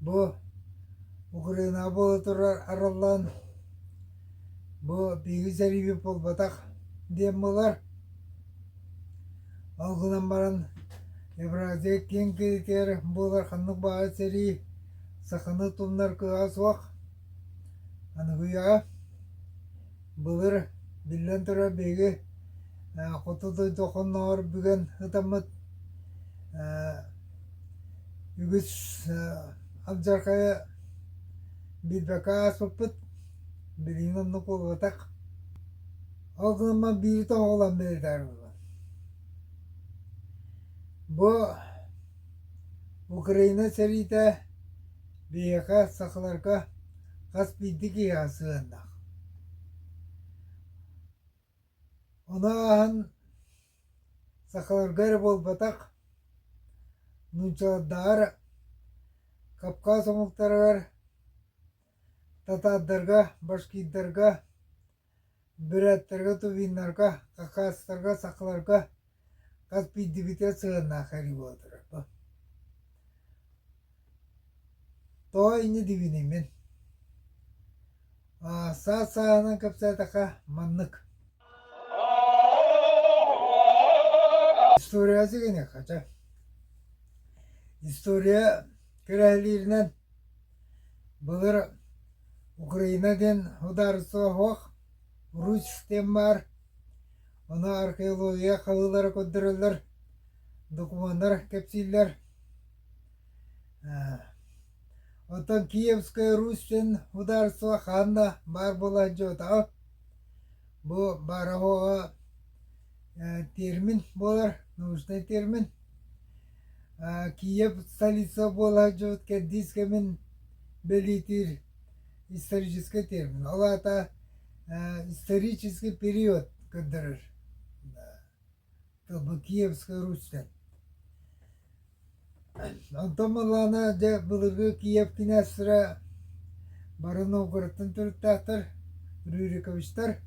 Бу Украинаҕа буола турар арыллан бу биһиги сэриибит буолбатах диэн буолар. Ол гынан баран Евразия киэҥ киһитигэр буолар ханнык баҕа сэрии саханы тумнар кыаҕа суох. Аныгыйаҕа былыр, биллэн турар, биһиги хоту дойду хонноҕор бүгэн ытаммыт үгүс алдьархайа биэрбэккэ ааспыппыт, билигин оннук буолбатах. Ол гынан биири тоҕулан бэлиэтээри буолар. Бу Украина сэриитэ Биһиэхэ, сахаларга, хас биирдии киһиэхэ сыһыаннаах. Ону ааһан сахаларга эрэ буолбатах, нууччалардаҕар, кавказ омуктарыгар, татаардарга, башкирдарга Бырааттарга тувеннарга, какаостарга, сахаларга хас биирдибитэ сыһыаннаах эрэ буолатыра бу. Тоҕо инньэ дибиний мин? Аа, саас сааһынан кэпсээтэххэ маннык. История сигиниэххэ чэ. История күрэһилииринэн Былыр Украина диэн судаарыстыба суох, уруч диэн баар, ону археология хаһыылара көрдөрөллөр, докумуоннар кэпсииллэр. Оттон Киевская Русь диэн судаарыстыба хаан да баар буола дьуотаҕа, бу баараһуоҕа термин буолар, научнай термин. Киев столица буолаат дьыбыт кэрдиис кэмин бэлиэтиир историческай термин. Ол аата исторический период көрдөрөр тылбы Киевская Руська. Онтон буоллаҕына дьэ былыргы Киев князьтара бары Новгородтан төрүттээхтэр, Рюриковичтар.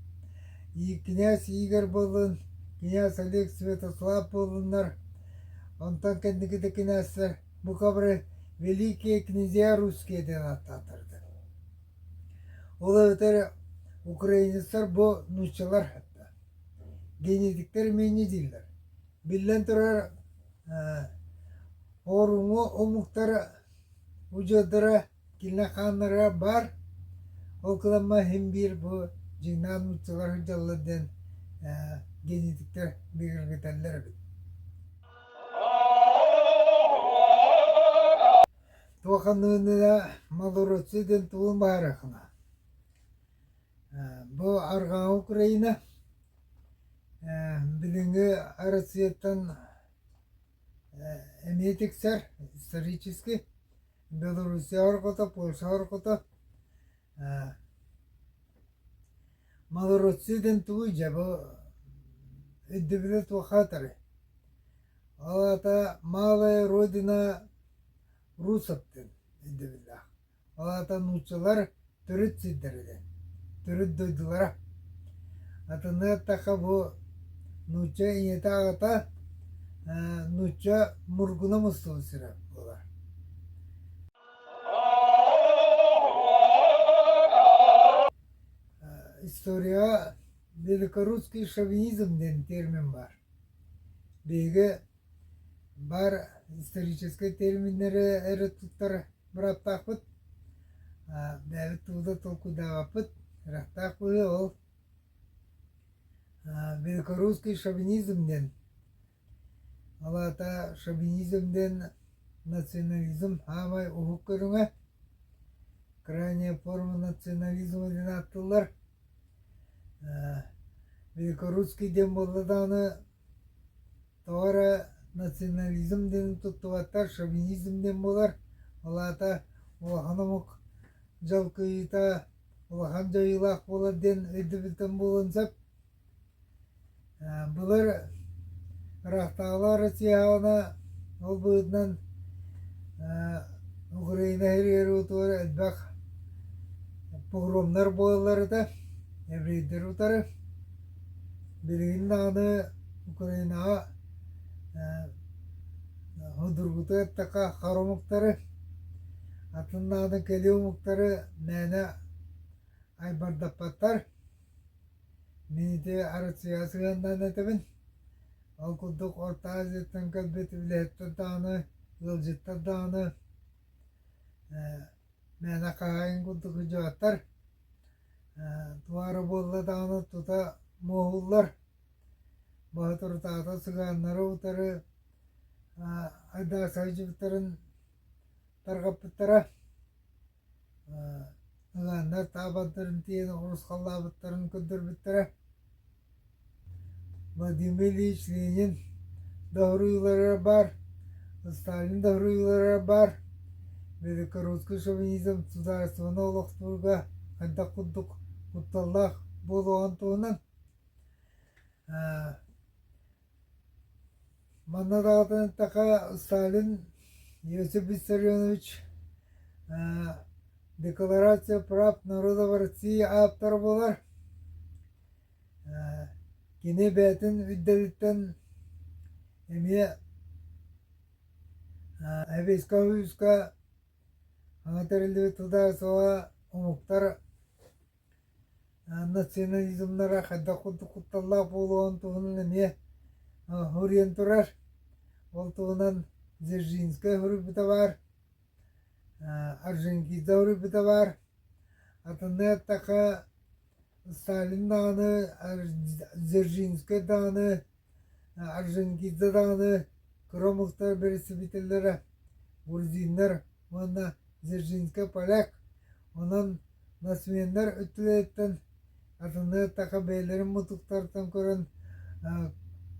Ииккинээс Игорь буоллун, князь Олег Святослав буоллуннар, онтон кэнникитэ кинээссэр бу кабры Великие князья русские диэн ааттаатардар. Ол эбэтэр украинецтар бу нууччалар генетиктер менни дииллэр. Биллэн турар оруҥу омуктар удьуордара Киллэрхааннара баар, ол кыламма иһин биир бу дьиҥнаах нууччалар сылдьаллар диэн генетиктэр бигэргэтэллэр эбит Туох аныыны малоросы диэн тугун баһарыаххына Бу Арҕаа Украина Билиҥҥи Россияттан эмиэ тиксэр исторически Белоруссия орҕото, Польша орҕото ээ Малоросия диэн тугуй дьэ бу өйдөбүлэ туохха атарай ол аата малая родина русов диэн өйдөбүллээх ол аата нууччалар төрүт сирдэригэр, төрүт дойдулара. Атыны атака бу нуучча ийэтэ аҕата нуучча мургуна мустула сирэ буолар. историяҕа великорусский шовинизм диэн термин бар. Биһиги Баар историческай терминнэри эрэ туттар бырааптаахпыт, бэйэбит тугу да толкуйдаабаппыт, ыраахтаах быһыы ол. Великорусский шовинизм диэн, ол аата шовинизм диэн национализм аамай уһук көрүҥэ, крайняя форма национализма диэн ааттыыллар. Великорусский диэн буолла даҕаны Тоҕо эрэ национализм диэни туттубаттар, шовинизм диэн буолар, ол аата улахан омук дьал кыайыыта улахан дьайыылаах буолар диэн өйдөбүлтэн буолуон сөп. Былыр ыраахтааҕылар Россияҕа ол быһыытынан Украина иһигэр элбэх погромнар буолаллар этэ, еврейдэр утары. Билигин даҕаны Украинаҕа судургутук эттэххэ хар омуктары, атын даҕаны кэлии омуктары мээнэ айбардаппаттар. Мин ити Арыдьыйа сыһыанынан этэбин. Ол курдук Орто Азияттан кэлбит үлэһиттэр даҕаны, ыалдьыттар даҕаны мээнэ хаһаайын курдук удьуордар туора буолла даҕаны тута муоһуллар боотурутаата сыгааннары утары айдааса сылдьыбыттарын тарҕаппыттара сыгааннар таабандарын тиэйэн оҕурусхаллаабыттарын көрдөрбүттэрэ Владимир Ильич Ленин доҕоруйуулара баар, Сталин доҕоруйуулара баар, белорусский шовинизм судаарыстыбаны олохтуурга хайдах курдук кутталлаах буолуоҕун туһунан манна даҕатан эттэххэ Сталин Иосиф Виссарионович Декларация прав народов России ааптара буолар. Кини бэйэтин ирдэбилиттэн эмиэ эбиискэ-оһуйууска тутааччылара омуктар национализмнара хайдах курдук кутталлаах буолуон туһунан эмиэ суруйан турар. Ол туһунан Дзержинскай суруйбута баар, Аржентинада суруйбута баар. Атыннык эттэххэ Сталин даҕаны, Дзержинскэй даҕаны, Орджоникидзе даҕаны, Кромовтар бэрэстэбиитэллэрэ грузиннар уонна Дзержинскай поляк, онон нацменнар өттүлэриттэн атыннык эттэххэ бэйэлэрин мутуктарыттан көрөн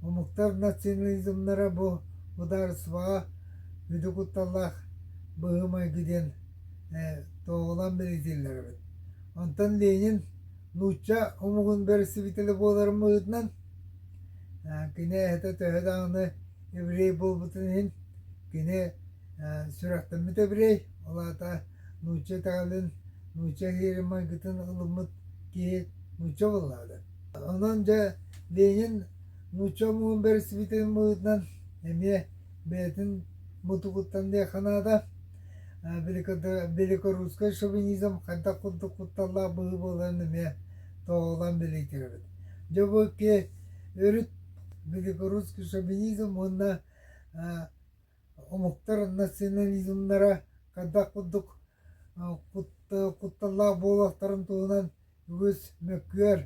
омуктар национализмнара бу судаарыстыбаҕа үрдүк кутталлаах быһыы-майгы диэн туоһулаан бэлиэтииллэр эбит. Онтон Ленин нуучча омугун бэрэстэбиитэлэ буоларын быһыытынан кини эһэтэ төһө даҕаны еврей буолбутун иһин кини сүрэхтэммит еврей ол аата нуучча итэҕэлин нуучча иһирмайгытын ылыммыт киһи нуучча буоллаҕа да онон дьэ Ленин нуучча омугун бэрэстэбиитэлин быһыытынан эмиэ бэйэтин мутугуттан диэххэ наада великорусскай шовинизм хайдах курдук кутталлаах быһыы буоларын эмиэ тоҕолон билийтирэбит. Дьэ бу өрүт великорусский шовинизм уонна омуктар национализмнара хайдах курдук кутталлаах буолуохтарын туһунан үгүс мөккүөр,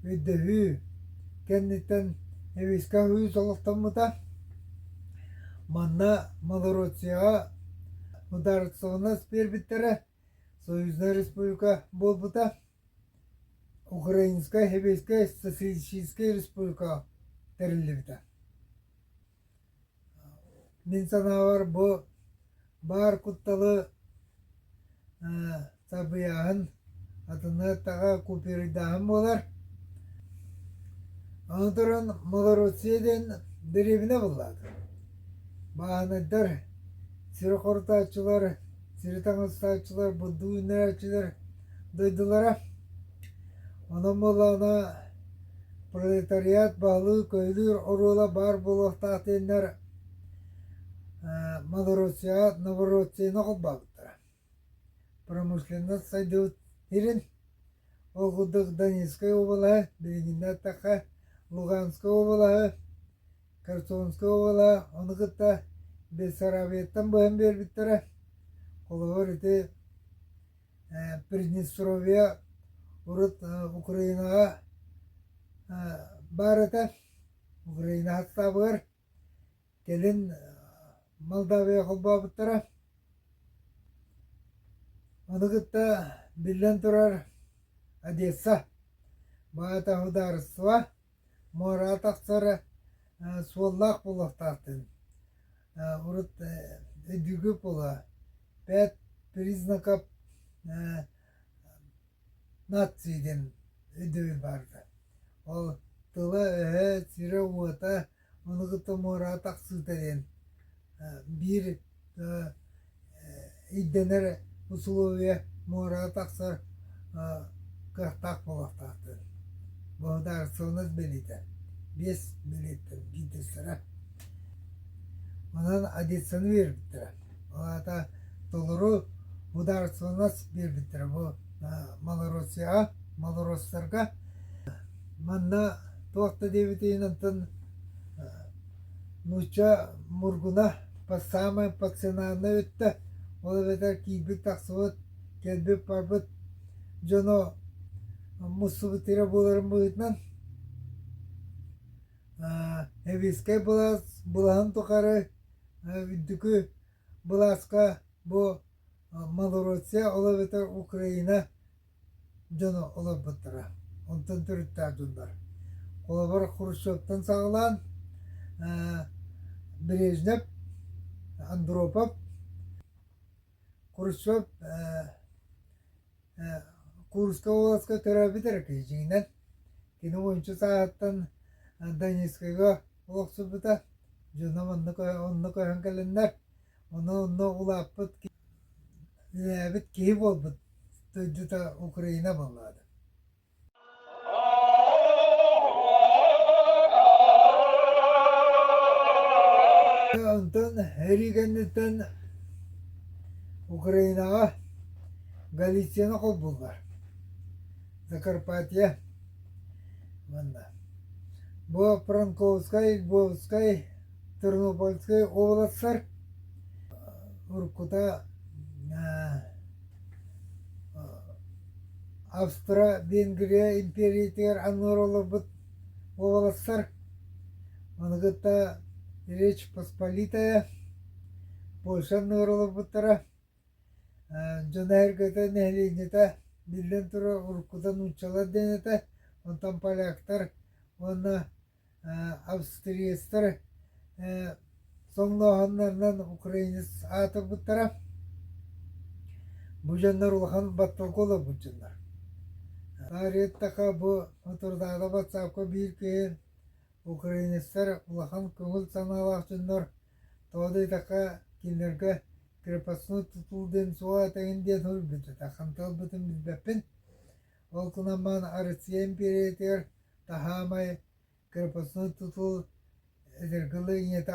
өйдөһүү кэнниттэн эвиска үһүс олохтоммута. Манна Малороссияҕа ударственность биэрбиттэрэ, Союзная Республика буолбута. Украинскай, Хебейскай, Социалистическай Республика тэриллибитэ. Мин санаабар бу баар кутталы сабыйааһын атынныктаҕа купюрайдааһын буолар. Аны туран малоросия диэн дэриэбинэ буллаата. Бааһынайдар, сири хорутааччылар, сири таҥастааччылар, бурдук үүннэрээччилэр дойдулара. Онон буоллаҕына Пролетариат баһылыыр-көйүлүүр оруола баар буолуохтаахтыыннар Малороссияҕа Новороссияны холбообуттара. Промышленность сайдыбыт сирин, ол курдук Донецкай уобалаһы, билиҥҥинэ эттэххэ Луганскай уобалаһы, Херсонскай уобалаһы, ону кытта Бессарабияттан быһан биэрбиттэрэ. Холобур, ити Приднестровье урут Украинаҕа баар этэ, Украина хаттаабыгар кэлин Молдавия холбообуттара. Ону кытта биллэн турар Одесса баата судаарыстыба Муораатахтара суоллаах буолуохтаахтын, урут өйдүүгү буола бэт признаков нации диэн өйдөбүл барда. Ол тыла-өһө, сирэ-уота, ону кытта муораатах сыыта диэн биир Ирдэнэр усулуобуйа муорага тахсар кыахтаах буолуохтаахтар. Благодарственность бэлиэтэ. Биэс бэлиэтэ биирдэстэрэ. Онон одессаны биэрбиттэрэ. Ол аата толору благодарственность биэрбиттэрэ бу малороссияҕа, малороссторго. Манна туох да диэбитинэн Нуучча Мургуна саамай пассионарна өттө, ол эбэтэр киирбит-тахсыбыт, кэлбит-барбыт дьоно мустубут ирэ буоларын быһыытынан Сэбиэскэй былаас былаһын тухары үрдүкү былааска бу Малороссия, ол эбэтэр Украина дьоно олорботторо. Онтон төрүттээхтииллэр. Холобур, Хрущевтан саҕалаан Брежнев, Андропов, Хрущев Курская областка төрөөбүт эрэ кыһичигинэн. Кини уончу сааһыттан Донецкайга олохсуйбута. Дьоно онно онно көһөн кэлэннэр Ону онно улааппыт үһээбит киһи буолбут дойдута Украина буоллаҕа да. Онтон эрий кэнниттэн Украинаҕа Галицияны холбууллар. Закарпатье манна. Бу Пронковскай, Львовскай Тернопольскай уобаластар уруккута Австро-Венгрия империятигэр аннылар олорбут уобаластар маны кытта Речь Посполитая Польша аннылар олорбуттара дьон эһэргэтэ нэһилиэнньэтэ биллэн турар уруккута нууччалар диэн этэ онтон поляктар уонна австриецтар соҥнооһуннарынан украинец аатырбыттара бу дьоннор улахан батталга олорбут дьоннор Ариеттака бу Отурдаада батсаапка биир киһин украинецтар улахан көҥүл санаалаах дьоннор тоодуйтака кинилэргэ крепостной тутул диэн суол этэҥин диэн суруйбүттэр ханталбытын билбэппин Ол гынан Арыцыйан биэриитигэр таһаамай корпуративнай тутул эдэргэлиэнньэтэ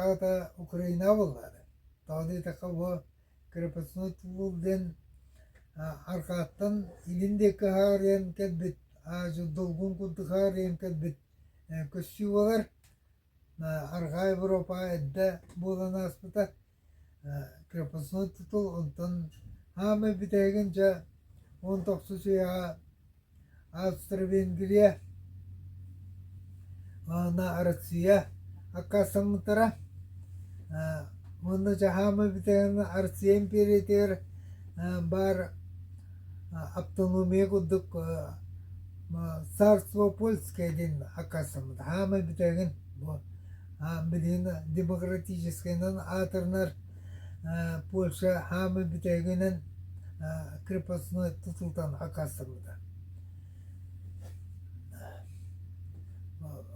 Украина буоллаары. Тоҕо диэтэххэ бу корпуративнай тутул диэн арҕааттан илин диэки хаарыйан кэлбит, долгун курдук хаарыйан кэлбит көстүү буолар. Арҕаа Европаҕа эрдэ буолан ааспыта крепостной тутул онтон хаамай бүтээгин дьэ уон тохсус үйэҕэ Австро-Венгрия уонна Россия аккаастаммыттара уонна дьэ хаамай бүтээгин Россия империятыгар баар автономия курдук царство польское диэн аккаастаммыт аамай бүтээгин бу билигин демократическайынан аатырынар польша аамай бүтээгинэн крепостной тутултан аккаастаммыта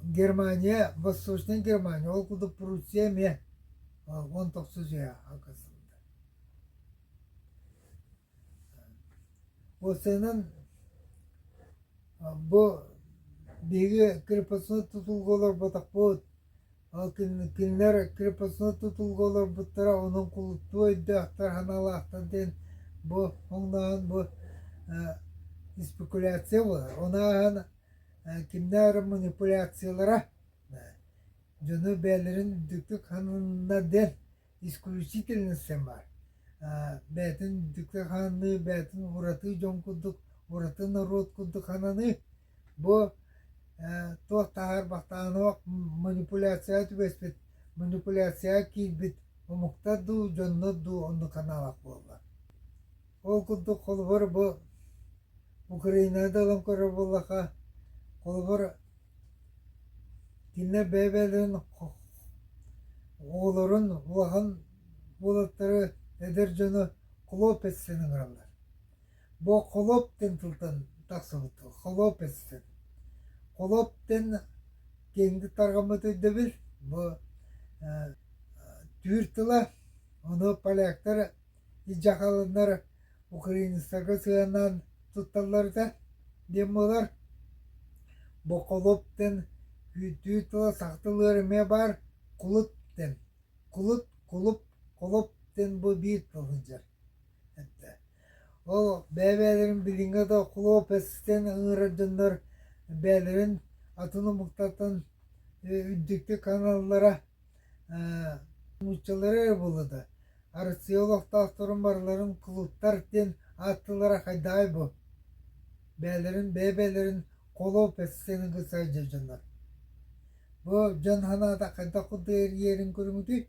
германия восточная германия ол курдук пруссия эмиэ он тоҕус дьиэ аккаастаммыта Ол сыанан бу биһиги крепостной тутулга олорботохпут, ол кинилэр крепостной тутулга олорбуттара онон кулуттуу өйдөөхтөр, санаалаахтар диэн бу хоҥнооһун бу спекуляция буолар. Ону ааһан кимнээх эрэ манипуляциялара дьону бэйэлэрин үрдүктүк сананна диэн исключительностья баар бэйэтин дьикти хананыы бэйэтин уратыы дьон курдук ураты норуот курдук хананыы бу туох таһаар бахтаанах манипуляцияҕа түбэспит манипуляцияҕа киирбит омуктар дуу дьоннор дуу оннук ханаалах буолла ол курдук холобур бу украинада ылан көрөр буоллахха холобур Кинилэр бэйэ-бэйэлэрин оҕолорун улахан уолаттары эдэр дьону Хлопецтэн ыҥыраллар. Бу Хлоптен тылтан тахсыбыт. Хлопецтен. Хлоптен киэҥник тарҕаммыт өйдөбүл. Бу түүр тыла, ону поляктар Дьахалыннар Украинскага сыһыаннаан тутталлар этэ диэн буолар. Боколоп диэн күүттүү тыла сахтылыыр эмиэ баар. Кулуп диэн. Кулут, кулуп, колоп диэн бу биир тыл сылдьар этэ. Ол бэйэ-бэйэлэрин билиҥҥэ да кулуп этиттэн ыҥырар дьоннор бэйэлэрин атын омуктартан үрдүктүк аналлара нууччалары ыбылы да арыцыйа олохтоохторун барыларын кулуттар диэн ааттыылара хайдаҕай бу бэйэлэрин бэйэ-бэйэлэрин холоп эссен ыгысай дьоннор бу дьон санаата хайдах курдук эрийэрин көрүҥүтүй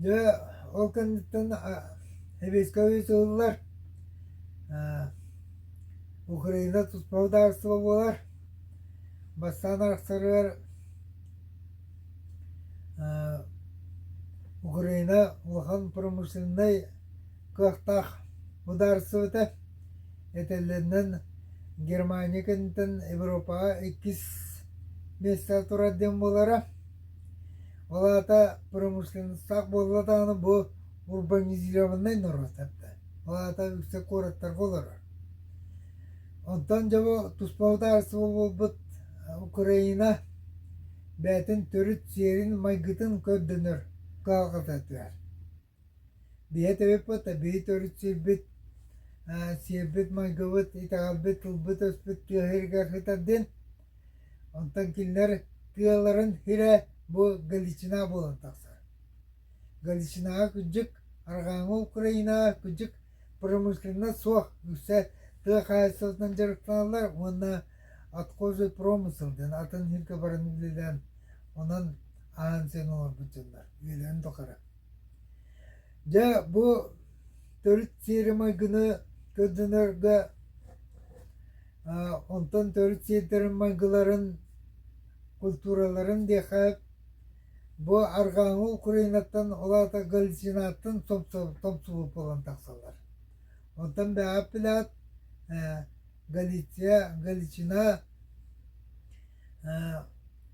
дьэ ол кэнниттэн эбиэскэбиит ыллылар Украина тус бырабыыталыстыба буолар, бастаан арахсарыгар Украина улахан промышленнай кыахтаах судаарыстыбата, этэллэринэн Германия кэнниттэн Европаҕа иккис миэстэҕэ турар диэн буолара. Ол аата промышленностаах буолла даҕаны бу урбанизированнай норуоттарда, ол аата үксэ куораттарга олорор. Онтон дьоbo туспа бытаалыстыба буолбут Украина бэйэтин төрүт сиэрин-майгытын көрдөнөр кыһалҕатытыгар. Биһи этэбиппит да биһи төрүт сирбит сиэрбит-майгыбыт итэҕэлбит тылбыт-өспүт тыаһыырыгар сытар диэн Онтон кинилэр тыаларын сирэ бу Галичина буолан тахсар. Галичинаҕа кырдьык арҕааҥҥы Украинаҕа кырдьык промышленнай суох үксэ тыа хаһаайыстыбатынан дьарыктаналлар уонна отхожий промысел диэн атын сиргэ баран үлэлээн онон аан сиэн оҥорбут дьоннор үлэлээн тухары. Дьэ бу төрүт сиэри-майгыны көрдөнөргө онтон төрүт сиэрдэрин-майгыларын, культураларын диэххэ бу арҕааҥы Украинаттан ол аата Галицинаттан томсулук буолан тахсаллар. Онтон бэҕэппилэат Галиция, Галичина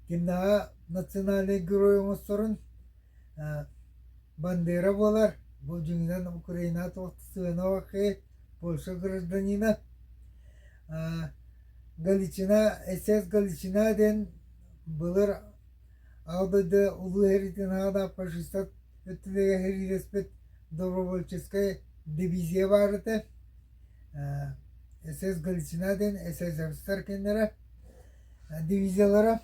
кимнэҕэ национальнай герой оҥосторун Бандера буолар, бу дьиҥинэн Украина сыаналаахый Польша гражданина. Галичина СС Галичина диэн былыр аҕа дойду улуу иһитин аана фашистар өттүлэргэ иһириэспит добровольческай дивизия баар этэ. СС Галичина диэн СССР кинилэрэ дивизиялара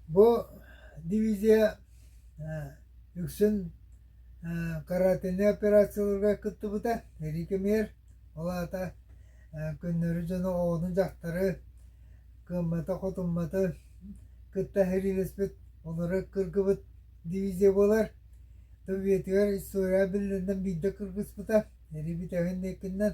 Бу дивизия үксүн каратэни операцияларга кыттыбыта, сэрии кэмигэр. Ол аата көннөрү дьону, оҕону, дьахтары кыамматы-хотумматы кытта сэриилэспит, олору кыргыбыт дивизия буолар. Советыгар история биллэринэн биирдэ кыргыспыта, сэрии бүтэһин инникинэн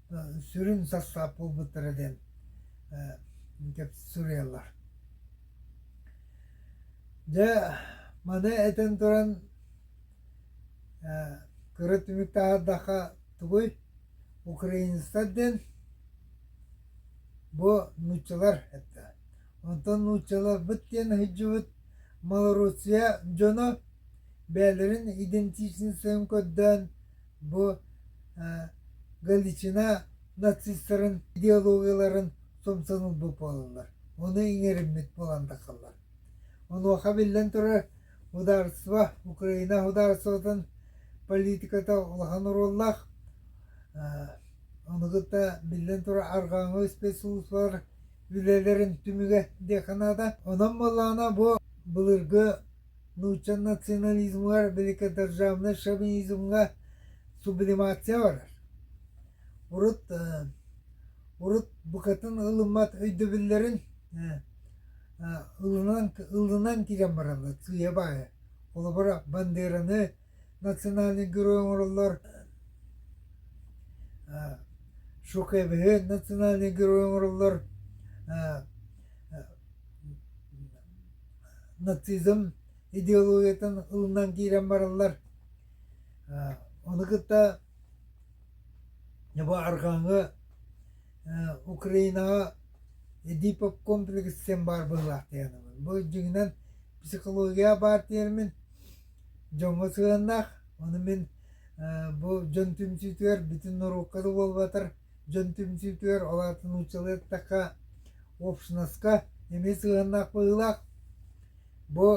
сүрүн сарсаап буолбуттара диэн суруйаллар. Дьэ, маны этэн туран кыра түмүк таһардахха тугуй украинецтар диэн бу нууччалар этэ. Онтон нууччаларбыт диэн ыһыддьыбыт малороссия дьоно бээлэрин идентичностын көрдөөн Бу Галичина нацистарын идеологияларын сумсун ылбыт буолаллар, ону иҥэриммит буолан тахаллар. Онуоха биллэн турар, судаарыстыба, Украина судаарыстыбатын политиката улахан оруоллаах. Ону кытта биллэн турар арҕааҥы спецслужбалар үлэлэрин түмүгэ диэхэ наада. Онон буоллаҕына бу былыргы нуучча национализмыгар, великодержавнай шовинизмҥа сублимация барар. Урут, урут букатын ылыммат өйдөбүллэрин ылынан ылынан киирэн бараллар сыыйа-баайа. Холобура, Бандераны национальнай герой оҥороллор шоковиһы национальнай герой оҥороллор нацизм идеологиятын ылынан киирэн бараллар ону кытта бу арҕааҥы украинаҕа эдипов комплекс диэн баар быһыылаах диэн бу дьиҥинэн психология баар тиэрмин дьоҥҥо сыһыаннаах. Ону мин бу дьон түмсүүтүгэр бүтүн норуокка да буолбатар дьон түмсүүтүгэр, ол аата нууччалыы эттэххэ, общноска эмиэ сыһыаннаах быһыылаах. Бу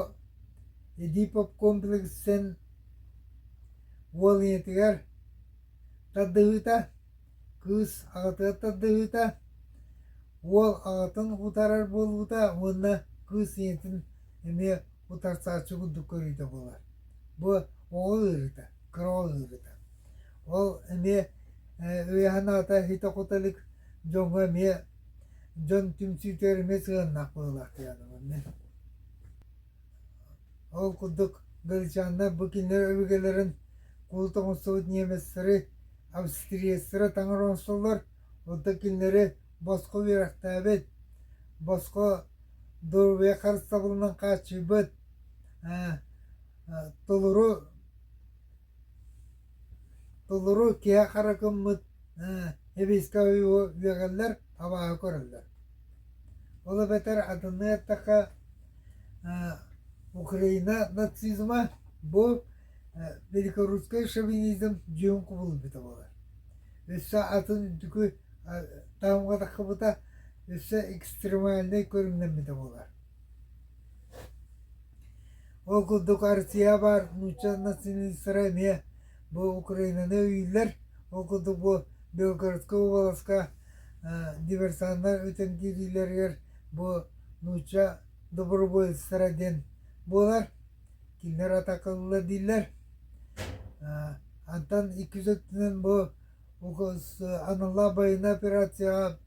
Эдипов комплекстан уол ийэтигэр тардыһыыта Кыыс аҕатыгар тардыһыыта, уол аҕатын утарар буолуута уонна кыыс ийэтин эмиэ утарсааччы курдук көрүүтэ буолар. Бу оҕо ыарыыта, кыра оҕо ыарыыта. Ол эмиэ өйө-санаата иһитэ-хото илик дьоҥҥо эмиэ дьон түмсүүтүгэр эмиэ сыһыаннаах буолуохтаах дьоно мин. Ол курдук, Галичаннар бу кинилэр өбүгэлэрин кулу тоҥустубут немецлэри, австриецлары таҥар оҥостоллор, оттон кинилэри босхо үөрэхтээбит, босхо доруобуйа харыстабылынан хааччыйбыт, толору Толору киһи хара гыммыт сэбиэскэй ойууну үөгэллэр, абааһы көрөллөр. Ол эбэтэр атыны эттэххэ Украина нацизма бу великорусскай шовинизм дьиҥ кубулуйбута буолар. Өссө атын үрдүкү таһымҥа тахсыбыта, өссө экстремальнай көрүҥнэммитэ буолар. Ол курдук Арсия баар нуучча националистара эмиэ бу Украинаны өйүүллэр. Ол курдук бу Белгородскай уобаласка диверсаннар өтөн киириилэригэр бу нуучча добровольецтара диэн буолар. Кинилэр атака ыллылар дииллэр. Онтон икки үс өттүнэн бу аналлаах байынай операцияҕа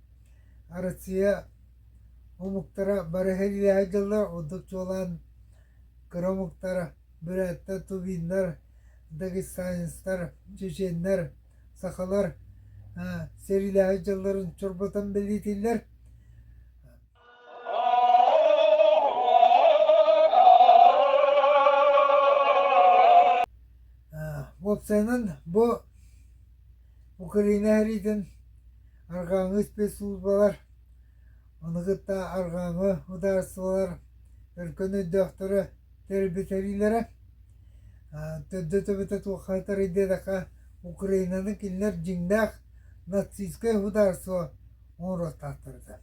Россия Омуктара бары иһиллиэҕи дьоллоох ордук чуолаан кыра омуктар бүрээттэр, тувиннар, дагестанецтар, чеченнэр, сахалар сэриилээһи дьылларын чорботон бэлиэтииллэр. Уопсайынан бу Украина иһэриитин арҕааҥҥы испэс службалар Ону кытта арҕааҥы судаарыстыбалар өлкөн өйдөөхтөрө тэрилтэлиилэрэ төрдө-төбөтө туохха атарый диэтэххэ Украинаны кинилэр дьиҥнээх нацистскай судаарыстыба оҥоруохтаахтар этэ.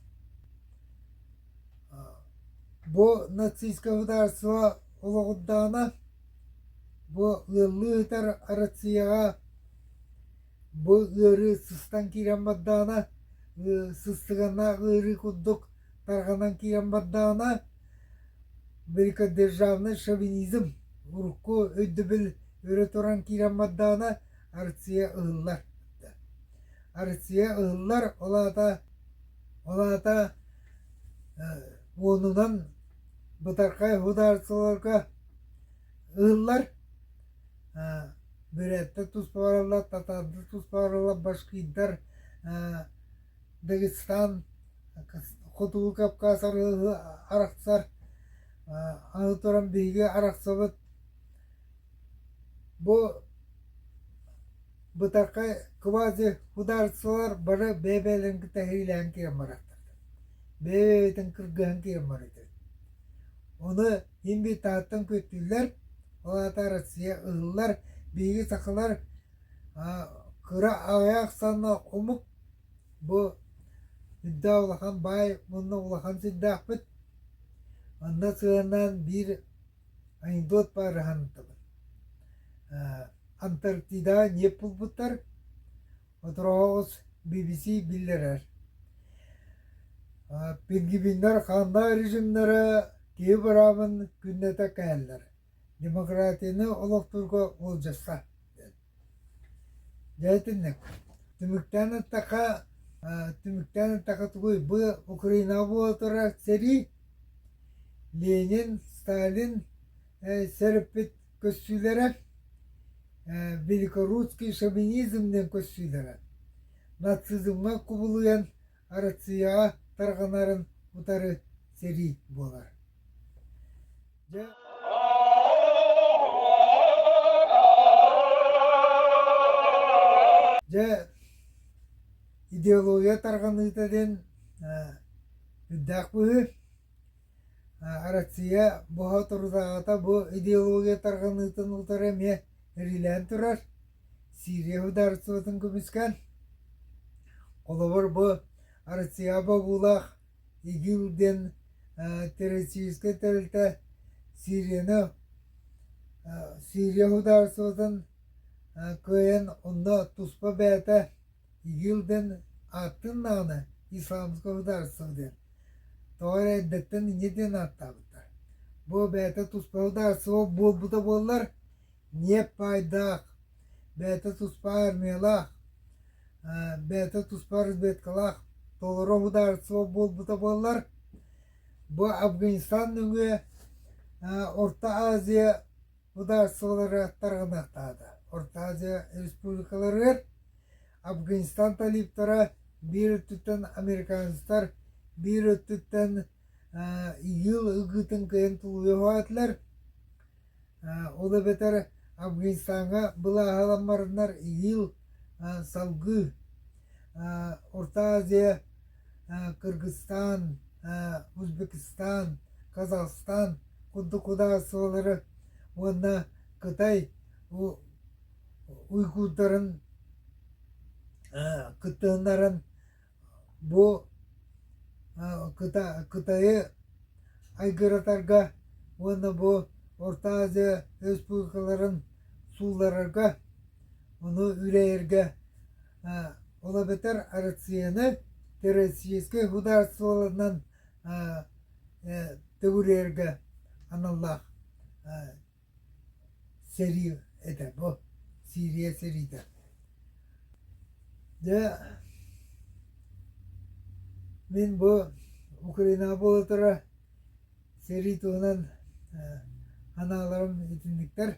Бу нацистскай судаарыстыба олоҕурдаҕына бу ыаллыы сытар Россияҕа Бу ыарыы сыстан киирэн бардаҕына, сыстыганнаах ыарыы курдук тарҕанан киирэн бардаҕына, великодержавный шовинизм урукку өйдөбүл өрө туран киирэн бардаҕына, Арция ыһыллар. Арция ыһыллар, ол аата, ол аата уонунан бытархай ударцаларга ыһыллар. бүрээттэр туспаларылар татарды туспаларылар башкиирдар дагестан хотугу кавказ арыһы арахсар аны туран биһиги арахсабыт бу бытархай квази судаарыстыбалар бары бэйэ бэйэлэрин кытта иһиилээн киирэн бараттар бэйэ бэйэтин кыргыһан киирэн барыытын ону Мин Британияттан көттүллэр, ол аата Россия ыһыллар, биһиги сахалар кыра аҕыйах санна омук бу үрдэ улахан баай мунна улахан сирдээхпит. Онно сыһыаннаан биир анекдот баар аһаныттыбыт. Антарктидаҕа ньиэп булбуттар, Отороҕоҕус BBC биллэрэр пингвиннэр ханна режимнэрэ киһи быраабын күннэтэ кэһэллэр демократияны олохтуурга уолдьасса дьэ итинник түмүктээн эттэххэ түмүктээн эттэххэ тугуй бу Украинаҕа буола турар сэрии Ленин Сталин сэр эппит көрсүүлэрэ великорусский шовинизм диэн көрсүүлэрэ нацизмҥа кубулуйан Россияҕа тарҕанарын утары сэрии буолар. Дьэ Дьэ идеология тарҕаныыта диэн э, үрдээх быһыы. Россия боһотордааҕыта бу идеология тарҕаныытын утары эмиэ эрилээн турар. Сирия судаарыстыбатын көмүскээн. Холобур бу Россияҕа бобуулаах ИГИЛ диэн террористическай тэрилтэ Сирияны Сирия судаарыстыбатын кыайан онно туспа бэйэтэ Игилдэн ааттыыннааҕына Ислямское государство диэн тоҕо эрэ эрдэттэн инньэ диэн ааттаабыта. Бу бэйэтэ туспа государство буолбута буоллар, ниэп баайдаах, бэйэтэ туспа армиялаах, э, бэйэтэ туспа разведкалаах толору государство буолбута буоллар, бу Афганистан нөҥүө э, Орто Азия Судаарыстыбалара тарҕаныахтаата. Хортуазия республикаларыгар Афганистан талиптара биир өттүттэн американецтар, биир өттүттэн ИГИЛ ыгыытын кыайан тулуйуох этилэр. Ол эбэтэр Афганистаҥҥа былааһаламмарыннар ИГИЛ салгыы Орто Азия Кыргызстан, Узбекистан, Казахстан курдук кудайсылары уонна Кытай уйгурдарын кыттыһыннаран бу Кытайы айгыратарга уонна бу Орто Азия республикаларын сууларарга, ону үлэйэргэ ол эбэтэр Россияны российскай государстволарынан төгүрүөргэ аналлаах сэрии этэ бу Сирия сэриитэ дьэ мин бу Украина буолатара сэрии туһунан анааларым итинниктэр